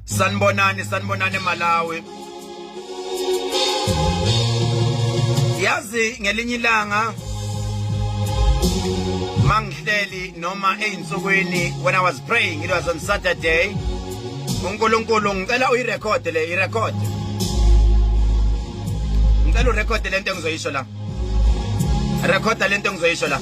sanibonani sanibonani emalawi yazi ngelinye ilanga mangihleli noma eyinsukwini when i was praying it was on saturday unkulunkulu ngicela uyirekhode le irekhode ngicela urekhode lento engizoyisho la rekhoda lento engizoyisho la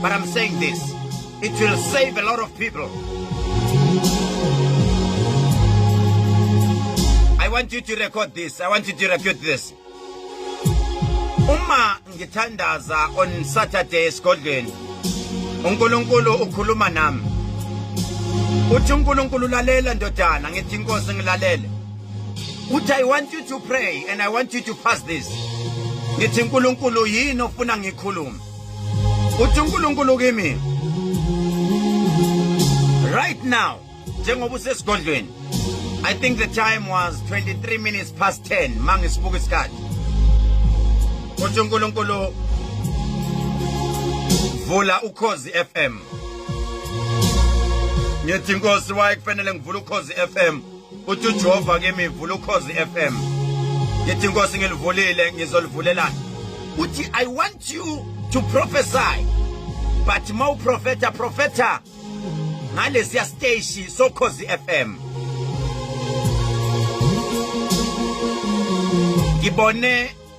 But I'm saying this, it will save a lot of people. I want you to record this. I want you to record this. Uma ngithandaza on Saturday esigodlweni. uNkulunkulu ukhuluma nami uthi uNkulunkulu lalela ndodana ngithi inkosi ngilalele uthi i want you to pray and i want you to fast this ngithi uNkulunkulu yini ofuna ngikhulume uthi uNkulunkulu kimi right now njengoba usesigodlweni I think the time was 23 minutes past 10 mangisibuka isikhathi uthi uNkulunkulu vula ukhozi FM ngithi inkosi waye kufanele ngivule ukhozi FM uthi uJehova kimi vula ukhozi FM ngithi inkosi ngilivulile ngizolivulela uthi i want you to prophesy but mau profeta profeta ngalesiya station sokhozi FM ngibone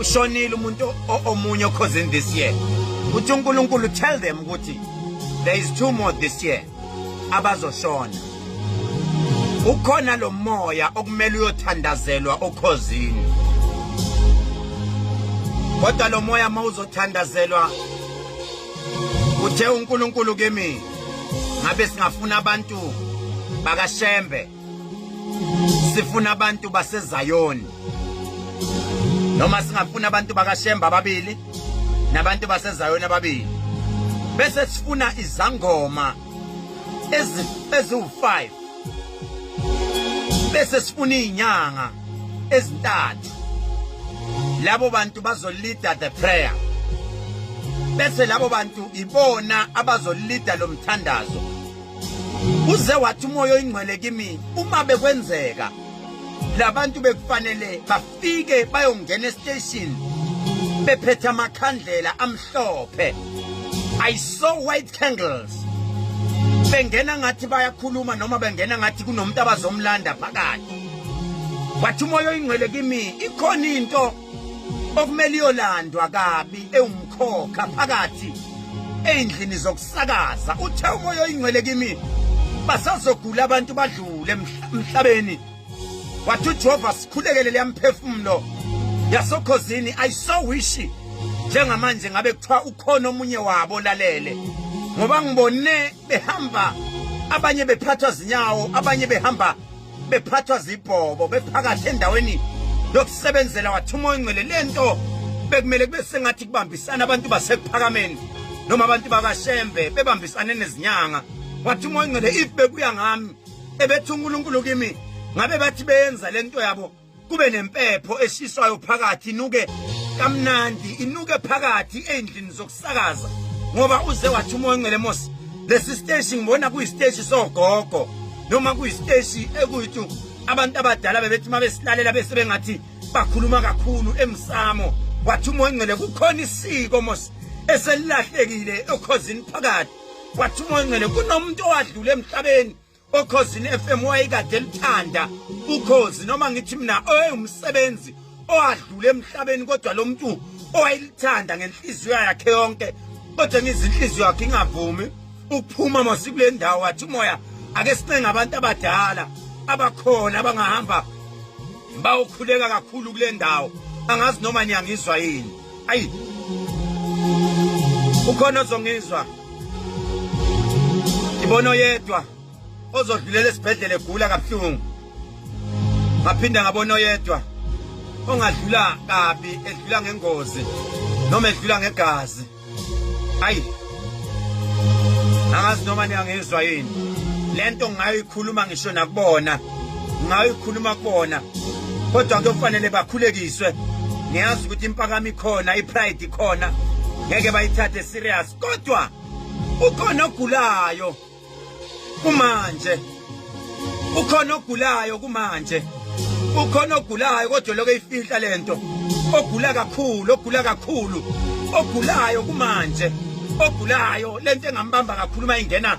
ushonile umuntu omunye okhozini this year uthi unkulunkulu tell them ukuthi there is two more this year abazoshona ukhona lo moya okumele uyothandazelwa okhozini kodwa lo moya uma uzothandazelwa uthe unkulunkulu kimi ngabe singafuna abantu bakashembe sifuna abantu baseZayoni noma singafuna abantu bakaShemba ababili nabantu baseZayoni ababili bese sifuna izangoma ezi eziwu5 bese sifuna izinyanga ezintathu labo bantu bazolida the prayer bese labo bantu ibona abazolida lomthandazo uze wathi umoya oyingcwele kimi uma bekwenzeka labantu bekufanele bafike bayongena estation bephethe amakhandlela amhlophe i saw white candles bengena ngathi bayakhuluma noma bengena ngathi kunomuntu abazomlanda phakathi wathi umoya oyingcwele kimi ikhona into okumele iyolandwa kabi ewumkhokha phakathi ey'ndlini zokusakaza uthe umoya oyingcwele kimi basazogula abantu badlule emhlabeni wathi ujehova sikhulekele leyamphefumulo yasokhozini i so wish njengamanje ngabe kuthiwa ukhona omunye wabo lalele ngoba ngibone behamba abanye bephathwa zinyawo abanye behamba bephathwa zibhobo bephakathi endaweni yokusebenzela wathuma oyingcwele le nto bekumele kube sengathi kubambisana abantu basekuphakameni noma abantu bakashembe bebambisane nezinyanga wathi umoya ngcele if bekuya ngami ebethi uNkulunkulu kimi ngabe bathi beyenza lento yabo kube nempepho eshiswayo phakathi inuke kamnandi inuke phakathi endlini zokusakaza ngoba uze wathi umoya ongcele mos lesi siteshi ngibona kuyisiteshi sogogo noma kuyisiteshi ekuyithu abantu abadala bebethi uma besilalela bese bengathi bakhuluma kakhulu emsamo wathi umoya ongcele kukhona isiko mos eselilahlekile okhozini phakathi wathi umoya ongcele kunomuntu owadlula emhlabeni okhozini FM wayekade elithanda ukhozi noma ngithi mina oyumsebenzi owadlula emhlabeni kodwa lo muntu owayelithanda ngenhliziyo yakhe yonke kodwa ngizinhliziyo yakhe ingavumi ukuphuma masikule ndawo wathi umoya ake sincenga abantu abadala abakhona abangahamba bayokhuleka kakhulu kule ndawo angazi noma niyangizwa yini ayi ukhona ozongizwa ngibona oyedwa ozodlulela esibhedlela egula kabuhlungu ngaphinda ngabona oyedwa ongadlula kabi edlula ngengozi noma edlula ngegazi ayi angazi noma niyangizwa yini lento ngayikhuluma ngisho nakubona ngayikhuluma kona kodwa kuyofanele bakhulekiswe ngiyazi ukuthi impakami khona ipride khona ngeke bayithathe serious kodwa ukhona ogulayo kumanje ukhona ogulayo kumanje ukhona ogulayo kodwa lokho eyifihla lento ogula kakhulu ogula kakhulu ogulayo kumanje ogulayo lento engambamba kakhulu mayingena